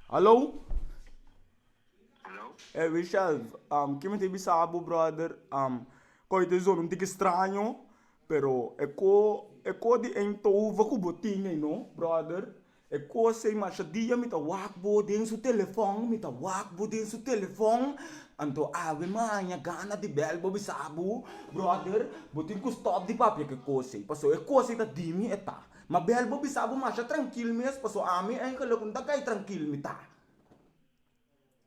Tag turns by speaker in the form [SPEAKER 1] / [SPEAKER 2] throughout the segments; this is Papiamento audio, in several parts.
[SPEAKER 1] Hallo? E Michel, ke mi ta bisa bo brother, koi ta zona un tiki straño pero e ko e ko di Eindhoven ku bo tin ei no brother. E cos ei masha dia mi ta wak bo den su telefon, mi ta wak bo den su telefon, anto awe maña gana di bel bo bisa bo, brother bo tin cu stop di papia cu e cos ei, pasobra e cos ei ta di mi e ta, ma bel bo bisa bo masha trankil mes, pasobra ami engeluk no ta cay trankil mi ta.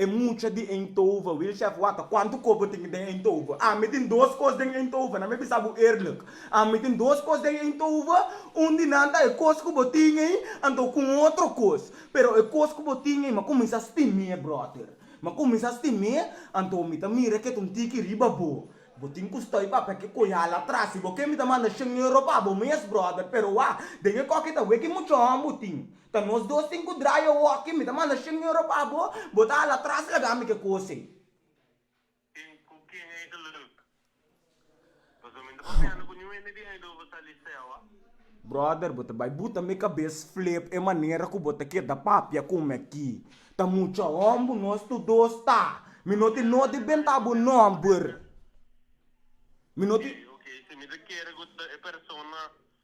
[SPEAKER 1] E mucha di Eindhoven, Wil Chef waka kuantu kobo tin den Eindhoven. Ami tin dos kos den Eindhoven, nan mi bisa bo eerlijk. Ami tin dos kos den Eindhoven, un di nan ta e kos ku bo tin ei, anto ku un otro kos. Pero e kos ku bo tin ei, m'a kuminsá stim'é, bròter. M'a kuminsá stim'é, anto mi ta mira ke ta un tiki riba bo. Bo tin ku stòi pa papia ke koyal atras. Si bo ke mi ta manda shen euro pa bo mes, bròter, pero wak, den e kòke ta weki mucha hòmber tin. Ta nos dos tin cu dry e hockey. Mi ta manda cien euro pa bo. Bo ta hala atras laga mi. Ke cos ey? Tin cu ken ey ta look. Nos no minta papiando cu niun hende di ey dor bo sali sewa. Brother, bo ta bay buta mi cabes flip e manera cu bo ta keda papia cu mi aki. Ta mucha hombu nos tur dos ta. Mi no tin no di benta bo nomber. Mi no tin. Oke, oke. Si mi ta kere cu ta e persona.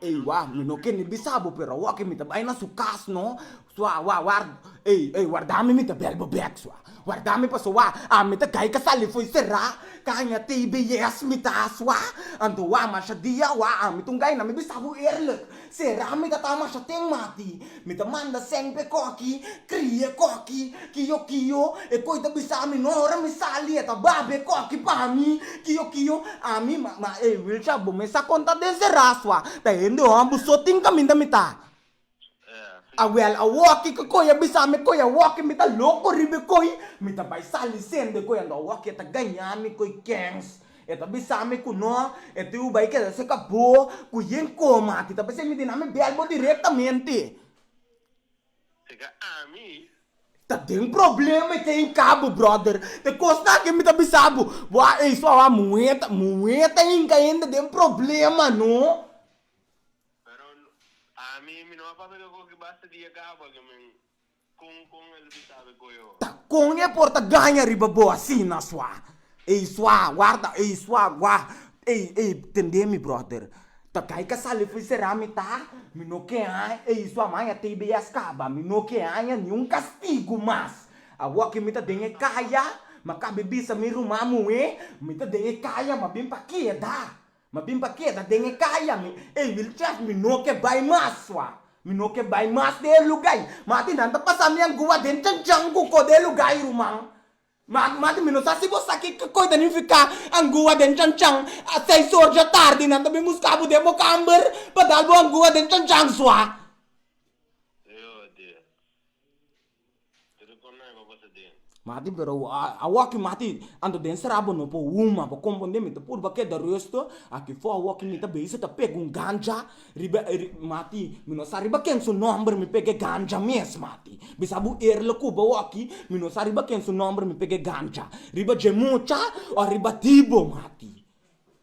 [SPEAKER 1] Ey wah mi no kende bisa bo pero awoke mi ta bay na su cas no sua wah war ey ey warda mi mi ta bel bo bek sua warda mi paso wah ah mi ta gay ka sali foy sera caña tbs mi ta sua anto wah masha dia wah ah mi ta un gay na mi bisa bo eerlijk Sera mi tata masha ten mati. Mi ta manda sempe koki, krie koki, kio kio, e koi ta bisa mi no ora mi sali e ta babe koki pa mi, kio kio, ami ma ma ey Wilsha bo mes a konta den Sera asua ta hende hon bo so tin kaminda mi ta a wel a woki ke koi a bisa mi koi a woki mi ta loko riba e koi mi ta bai sali sende koi ando a woki e ta gaña mi koi kens E ta bisami ku no e tin uba i keda seka bo ku yen koma ti ta p'esei mi dina mi bèl bo direktamente. Seka ami. Ta den problema i kei hinka bo bròder. Te kosnan akí mi ta bisa bo, bo a ei so awa muheta, muheta ta hinka hende den problema no. Pero ami mi no a papia ke koki basta di e gabo aki men. Ta con e por ta gaña riba bo asina sua? Ey sua, warda ey sua gua, ey ey tende mi brother, ta kai ka sali fi sera mi ta, mi no ke haña ey sua maña tb a scaba, mi no ke haña ni un castigo mas, awo ki mi ta den e caya, mi a cabe bisa mi ruman muhé, mi ta den e caya, mi a bin pa keda. Ma bin pa keda den e kaya mi, ey wil chef mi no ke bai mas sua, mi no ke bai mas den e luga ey, mati nan ta pasa mi angua den chanchan ku ko den e luga ey ruman, ma mati mi no sa si bo sa ki kikoi ta nifica angua den chanchan, a seis or dja tardi nan ta bin buska bo den bo kamber pa dal bo angua den chanchan sua. Mati, pero awoki mati, anto den sra bo no por huma bo konpondé mi ta purba keda resto aki for awoki mi ta beiso ta pega un ganja riba mati mi no sa riba ken su nomber mi pega e ganja mes mati bisa bo er lo kuba awoki mi no sa riba ken su nomber mi pega e ganja riba dje mucha o riba di bo mati.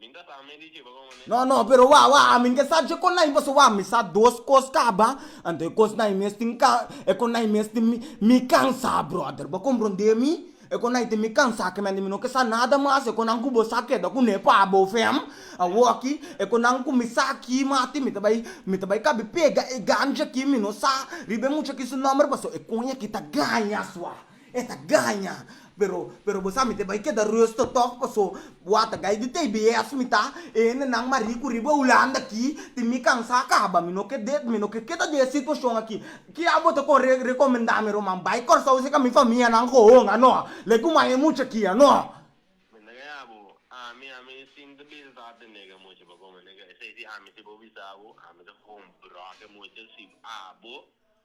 [SPEAKER 1] Min ta sa men di kiba bo manera. No no pero wak wak amin ke sa dje kon nai paso wak mi sa dos kos kaba anto e kos nai mes tin ka e kon nai mes tin mi mi kansa brother bo kompronde mi e kon nai tin mi kansa kimen di mi no ke sa nada mas e konan ku bo sa keda kune pa bo fem awoki e konan ku mi sa aki mati mi ta bai mi ta bai kabi pega e ganchi aki mi no sa riba e mucha aki su nomber paso e kon aki ta gaña sua. E ta gaña. Pero, pero bo sa mi te bai keda rusto tog, paso bo a tagay di tbs mi ta e hende nan mas riku riba Hulanda aki, tin mi kansa kaba, mi no ke de, mi no ke keda di e situashon aki. Kia bo ta con recomenda mi Roman, bai Corsou seca mi famia nan hoon ano, like un maya mucha aki ano. Mi ta gaña bo, ami, ami sin ta bisa sa te nega mucha pa come nega esey si ami si bo bisa bo, ami ta hoon broke mucha si a bo